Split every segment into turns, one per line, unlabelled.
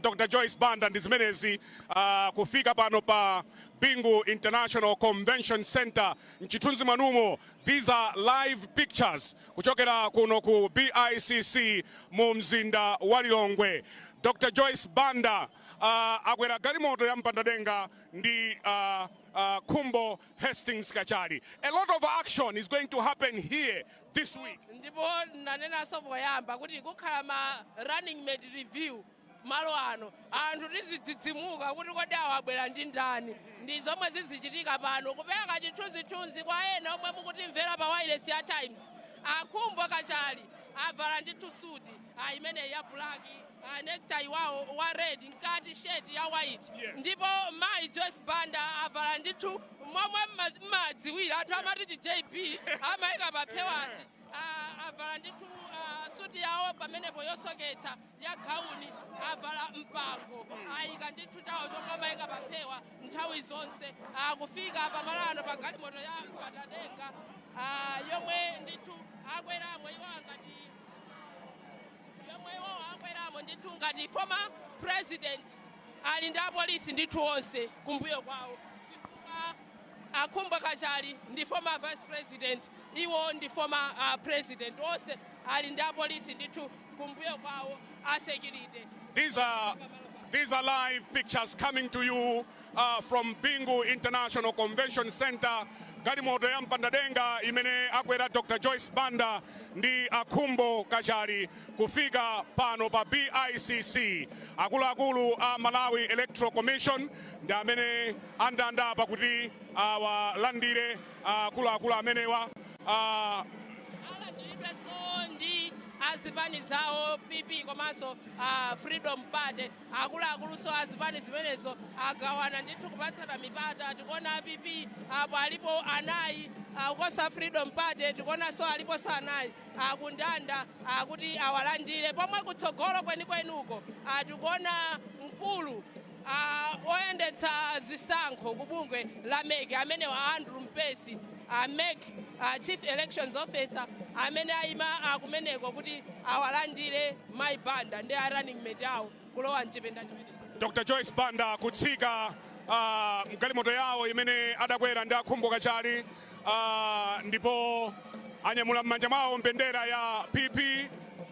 Dr Joyce Banda ndi zimenezi uh, kufika pano pa Bingu International Convention Center mchithunzi mwanumo these are live pictures kuchokera kuno ku BICC mu mzinda wa Lilongwe Dr Joyce Banda uh, akwera galimoto ya mpandadenga ndi uh, uh, Khumbo Hastings Kachali a lot of action is going to happen here this week. ndipo
nanenanso poyamba kuti kukhala ma running mate reveal malo ano anthu tizidzidzimuka kuti kodi awa abwera ndi ndani ndi zomwe zizichitika pano kupereka chithunzithunzi kwa ena omwe mukutimvera pa wayilesi ya Times a Khumbo Kachali avala ndithu suti a imeneyi ya black a necktie wawo wa red mkati shirt ya white Yeah. ndipo mayi Joyce Banda avala ndithu momwe mma- mmadziwira anthu amati chi JB amayika paphewachi A- avala ndithu ah, suti yawo pamenepo yosoketsa ya gauni avala mpango ayika ndithu chawo chomwe amayika paphewa nthawi zonse Ah, kufika pamalano pa galimoto ya mpandadenga ah, yomwe ndithu akweramo iwo ngati yomwe iwowo akweramo ndithu ngati former president ali ndi apolisi ndithu onse kumbuyo kwawo chifukwa a Khumbo Kachali ndi former vice president iwo ndi former uh, president onse ali ndi apolisi ndithu kumbuyo kwawo a security These are
these are live pictures coming to you uh, from Bingu International Convention Center galimoto ya mpandadenga imene akwera Dr. Joyce Banda ndi a Khumbo Kachali kufika pano pa BICC akuluakulu a Malawi Electoral Commission ndi amene andanda apa kuti awalandire uh, akuluakulu amenewa uh, alandiridwenso
ndi azipani zawo PP komanso uh, Freedom Party Akuluakulunso a zipani zimenezo agawana ndithu kupatsana mipata. Tikuona a PP apo alipo anayi, ukonso a Freedom Party tikuonanso aliponso anayi akundanda kuti awalandire. Pomwe kutsogolo kwenikweni uko tikuona mkulu oyendetsa zisankho ku bungwe la MEC amenewa a Andrew Mpesi, a MEC Chief Elections Officer amene ayima kumeneko kuti awalandire. Mayi Banda ndi a running mate awo kulowa mchipinda chimenechi. Dr Joyce
Banda kutsika uh, mgalimoto yawo imene adakwera ndi a Khumbo Kachali uh, ndipo anyamula m'manja mwawo mbendera ya PP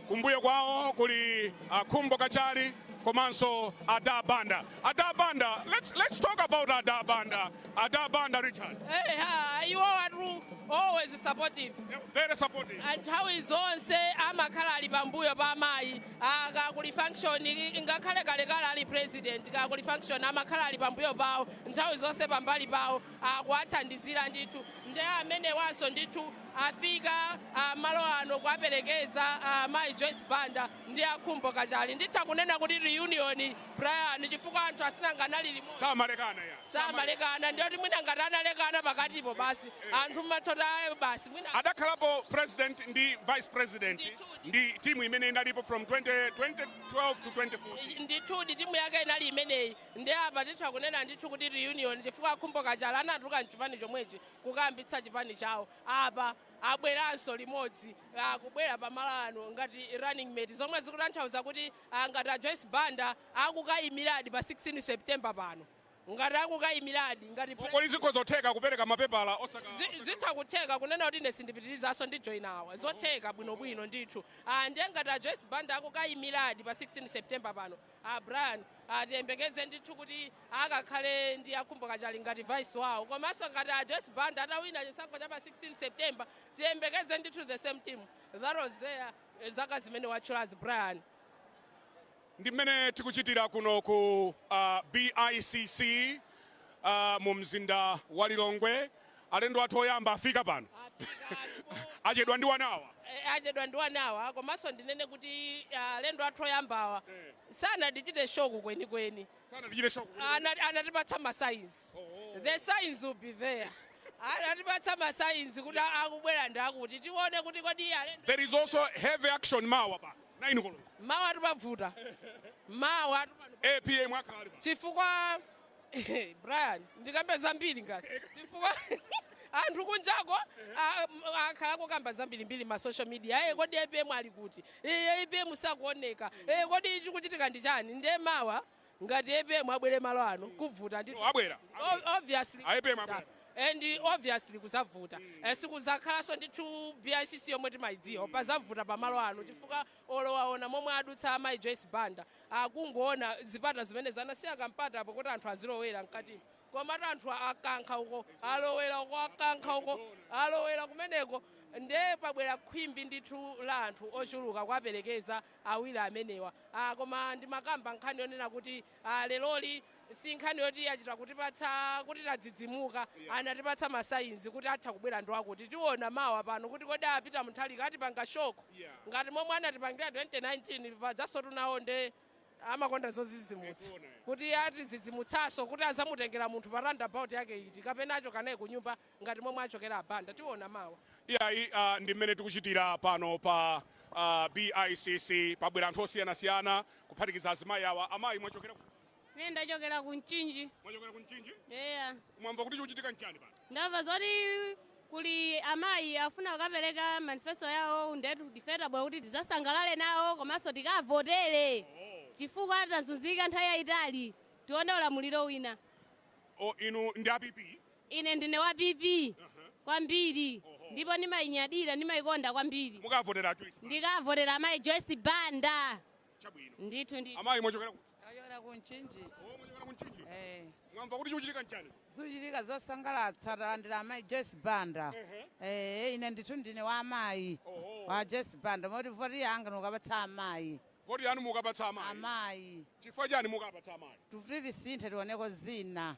kumbuyo kwawo kuli a Khumbo Kachali komanso ada Banda Dada Banda, let's let's talk about Dada Banda. Dada Banda, Richard. Hey, ha, you
are true. Always supportive. Yeah, Very supportive.
nthawi zonse
amakhala ali pambuyo pa amayi Ah, kukakhala kuli function i- ngakhale kalekale ali president kukakhala kuli function amakhala ali pambuyo pawo nthawi zonse pambali pawo akuwathandizira ndithu nde amenewanso ndithu afika ah, malo ano kuwaperekeza ah, mayi Joyce Banda ndi a Khumbo Kachali nditha kunena kuti reunion Brian chifukwa anthu asinangawa anali limodzi samalekana ya samalekana ndiye kuti mwina ngati analekana pakatipo basi eh. anthu mmathotayo basi mwina adakhalapo president
ndi vice president ndi timu imene inalipo from 20, 2012 to 2014 ndithudi timu
yake inali imeneyi ndi apa titha kunena ndithu kuti reunion chifukwa a Khumbo Kachali anatuluka mchipani chomwechi kukayambitsa chipani chawo apa abweranso limodzi akubwera ah, pamalo ano ngati running mate zomwe zikutanthauza kuti a Ngati a Joyce Banda akukayimiladi pa 16 September pano, ngati akukayimiladi ngati Kodi president, zikhoza kutheka
kupereka mapepala osaka. zi- zitha kutheka
kunena kuti ine sindipitilizaso ndi join awa, zotheka bwinobwino ndithu. Ah, Ndiye ngati a Joyce Banda akukayimiladi pa 16 September pano, a Brian tiyembekeze ndithu kuti akakhale ndi a Khumbo Kachali ngati vice wawo, komanso ngati a Joyce Banda atawina chisankho cha pa 16 September, tiyembekeze ndithu the same team that was there zaka zimene watchulazi
Brian. Ndi mmene tikuchitira kuno ku uh, BICC uh, mu mzinda wa Lilongwe. Alendo athu oyamba afika pano achedwa ndi wanawa eh, achedwa ndi wanawa komanso ndinene kuti
ah, alendo athu oyambawa eh. sanatichite shock kwenikweni sanatichite shock kuti- Anati- anatipatsa ma signs Oh. the signs were there anatipatsa ma signs kuti akubwera ndi akuti tione kuti kodi iye alendo there is also heavy
action mawa pa 9 koloko mawa ati
pavuta mawa atipano
APM akhala ali pa
chifukwa
brian
ndikambe zambiri ngati chifukwa anthu kunjako a- m- akhala akukamba zambirimbiri ma social media aye kodi APM ali kuti Iye APM sakuoneka ee kodi chikuchitika ndi chani nde mawa ngati APM abwere malo ano kuvuta ndithu Oh, abwera, abwera. O-
obviously A
APM abwera. and obviously kuzavuta Eh, sikuzakhalanso ndithu BICC yomwe timayidziwa pazavuta pamalo ano chifukwa olo waona momwe adutsa amayi Joyce Banda akungoona zipata zimene zanasiya kampata apo kuti anthu azilowera mkatimo komatu anthu akankha uko alowera uko akankha uko alowera kumeneko nde pabwera khwimbi ndithu la anthu ochuluka kuwaperekeza awiri amenewa ah, koma ndimakamba nkhani yonena kuti ah, leroli si nkhani yoti achita kutipatsa kuti tadzidzimuka anatipatsa ma signs kuti atha kubwera ndi wakuti tiona mawa pano kuti kodi apita Mutharika atipanga shock ngati momwe anatipangira 2019 pajansotu nawo nde amakonda zozidzimutsa kuti atidzidzimutsanso kuti azamutengera munthu pa roundabout yake iti kapena achoka naye kunyumba ngati momwe achokera a Banda tiona mawa iyayi uh, ndi mmene
tikuchitira pano pa uh, bicc pabwera anthu osiyanasiyana kuphatikiza azimayi awa amayi mwachokera kuti Ine ndachokera
ku Mchinji. mwachokera ku mchinji
Eya. mwamva
kuti chikuchitika
nchani pano Ndamva
zoti kuli amayi afuna kukapereka manifesto yawo ndetu ife tabwera kuti tizasangalale nawo komanso tikavotere chifukwa tazunzika nthawi yayitali tione ulamuliro wina. O
inu ndi a PP? Ine ndine
wa PP kwambiri ndipo ndimayinyadira ndimayikonda kwambiri. Mukavotera a Joyce Banda?
Ndikavotera amayi
Joyce Banda.
Chabwino. Ndithu ndithu.
Amayi mwachokera
kuti? Ndachokera ku
Mchinji. Oh, mwachokera ku
Mchinji? Eh. Mwamva kuti chikuchitika nchani? Zikuchitika
zosangalatsa talandira amayi Joyce Banda. Eh, ine ndithu ndine wa amayi. Wa Joyce Banda moti voti yanga ndikapatsa amayi. Voti yanu mukapatsa
amayi. Amayi. Chifukwa
chani mukapatsa
amayi? Tifuna kuti tisinthe tioneko
zina.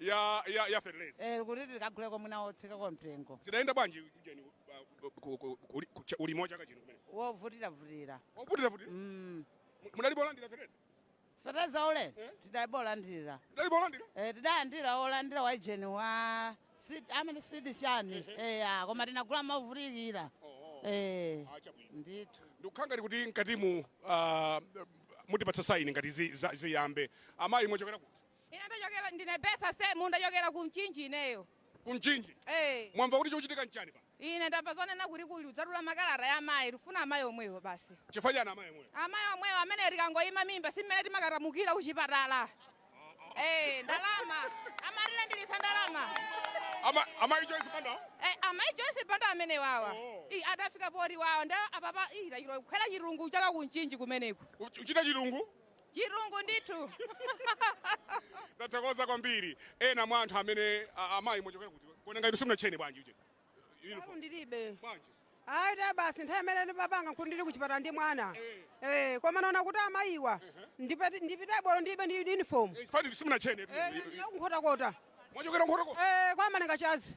ya ya ya fertilizer Eh, kuti tikaguleko
mwina wotsikako mtengo zidayenda bwanji
ujeni uh, ku- ku- ku- ku- cha- ulimi wa chaka chino kumene wovutiravutira
wovutira vuti
Mm. mudalibolandira fertilizer feteleza ule
tidalibolandira mudalibolandira
Eh,
adalandira olandira wa ujeni wa si- amene sidi chani eya koma tinagula movutikira oh Eh, a chabwino ndithu ndikukhala ngati kuti mkatimu
uh, mutipatsa saini ngati zi- za- ziyambe amayi mwachokera kuti Ine ndachokera
ndine Betha Semu ndachokera ku Mchinji ineyo. Ku
Mchinji? Eh. Mwamva kuti chikuchitika nchani pa? Ine ndamva
zonena kuti kuli kudzatula makalata ya amayi tufuna amayi omwewo basi. Chifukwa chani amayi omwewo?
Amayi omwewo amene
tikangoyima mimba si mmene timakatamukira ku chipatala. Eh, ndalama. Amatilandilitsa ndalama. Ama
amayi Joyce Banda? Eh, amayi Joyce
Banda amenewawa. Oh. Ii adafika poti wawa nda apapa ii lachiro kukhwera chirungu chaka ku Mchinji kumeneko. Uchita chirungu?
Chirungu
ndithu. Ndathokoza
kwambiri. Ena mwa anthu amene amayi mwachokera kuti kuona ngati simunatchene bwanji uje. Uniform ndilibe. Bwanji. Ayi ta basi
nthawi imene ndimapanga nkuti ndili kuchipatala ndi mwana. Eh, eh koma naona kuti amayiwa ndipita ndipitebe olo ndilibe ndi uniform. Eh, Fati simunatchene.
Eh, eh, eh. Nkhotakota.
Mwachokera nkhotakota.
Eh, kwa Malengachanzi.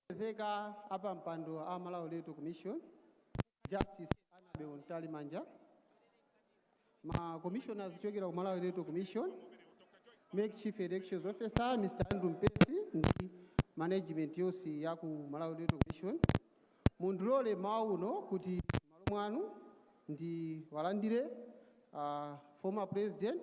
Olemekezeka
apampando a Malawi Electoral Commission, Justice Annabel Mtalimanja, ma Commissioners kuchokera ku Malawi Electoral Commission, MEC Chief Elections Officer Mr. Andrew Mpesi ndi management yonse ya ku Malawi Electoral Commission. Mundilole mmawa uno kuti m'malo mwanu ndiwalandire ah, former president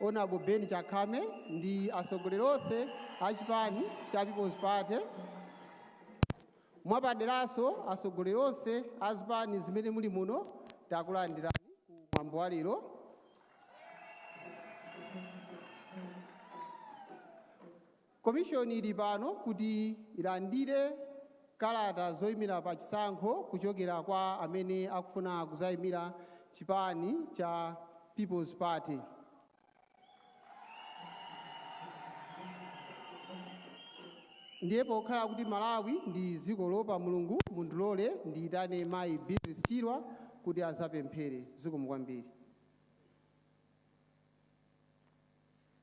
Honorable Ben Chakhame ndi atsogoleri onse a chipani cha People's Party, mwapaderanso atsogoleri onse a zipani zimene muli muno, takulandirani ku mwambo wa lero. Komishoni ili pano kuti ilandire kalata zoimira pa chisankho kuchokera kwa amene akufuna kuzaimira chipani cha People's Party. Ndiye pokhala kuti Malawi ndi dziko loopa Mulungu, mundilole ndiitane mayi Beatrice Chirwa kuti azapemphere. Zikomo kwambiri.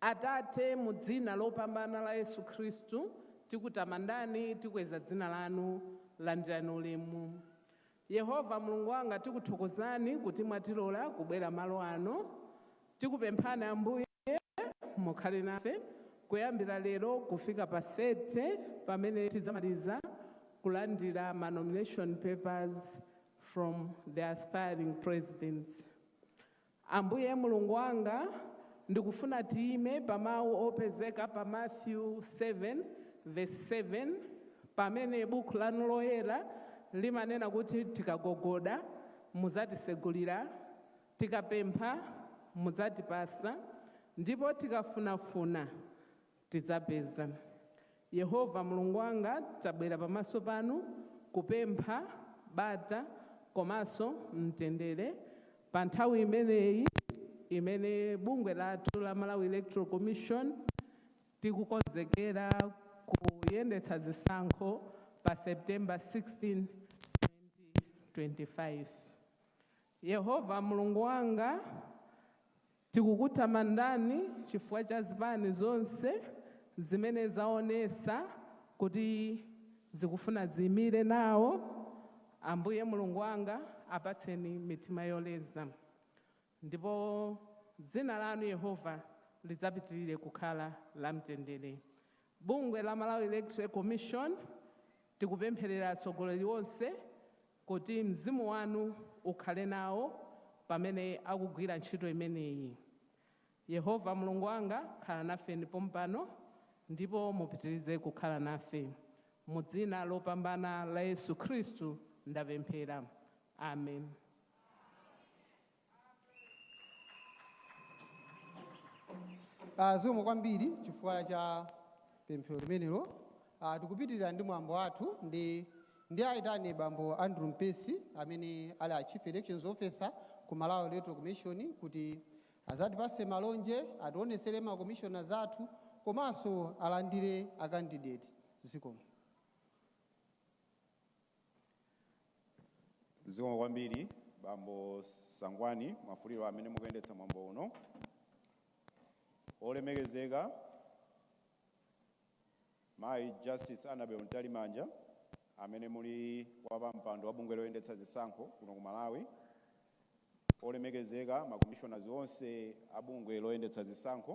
Atate, mu Dzina lopambana la Yesu Khristu, tikutamandani, tikweza Dzina Lanu. Landirani ulemu. Yehova, Mulungu wanga, tikuthokozani kuti mwatilola kubwera malo ano. Tikupemphani, Ambuye, mukhale nafe kuyambira lero kufika pa 30, pamene tidzamaliza kulandira ma nomination papers from the aspiring presidents. Ambuye Mulungu wanga, ndikufuna tiime pa mawu opezeka pa Matthew 7 verse 7, pamene Bukhu Lanu Loyera limanena kuti tikagogoda, mudzatisegulira, tikapempha, mudzatipatsa, ndipo tikafunafuna, Tidzapeza. Yehova Mulungu wanga tabwera pamaso panu kupempha bata komanso mtendere pa nthawi imeneyi imene bungwe lathu la Malawi Electoral Commission tikukonzekera kuyendetsa zisankho pa September 16, 2025. Yehova Mulungu wanga. Tikukutamandani chifukwa cha zipani zonse zimene zaonesa kuti zikufuna ziimire nawo. Ambuye Mulungu wanga apatseni mitima yoleza ndipo dzina lanu Yehova lidzapitirire kukhala la mtendere. Bungwe la Malawi Electoral Commission tikupempherera atsogoleri onse. kuti Mzimu wanu ukhale nawo pamene akugwira ntchito imeneyi. Yehova Mulungu wanga, khala nafeni pompano ndipo mupitirize kukhala nafe. Mu Dzina lopambana la Yesu Khristu ndapemphera. Amen.
Ah, zikomo kwambiri chifukwa cha pemphero limenelo Ah, tikupitirira ndi mwambo wathu ndi ndiaitane bambo andrew mpesi amene ali a chief elections officer ku malawi electoral commission kuti azatipase malonje ationesere ma commissioners athu komanso alandire a candidate zikomo
Zikomo kwambiri bambo Sangwani Mwafulirwa amene mukuyendetsa mwambo uno. Olemekezeka mayi Justice Annabel Mtalimanja amene muli wapampando wa bungwe loyendetsa zisankho kuno ku Malawi. Olemekezeka ma commissioners onse a bungwe loyendetsa zisankho.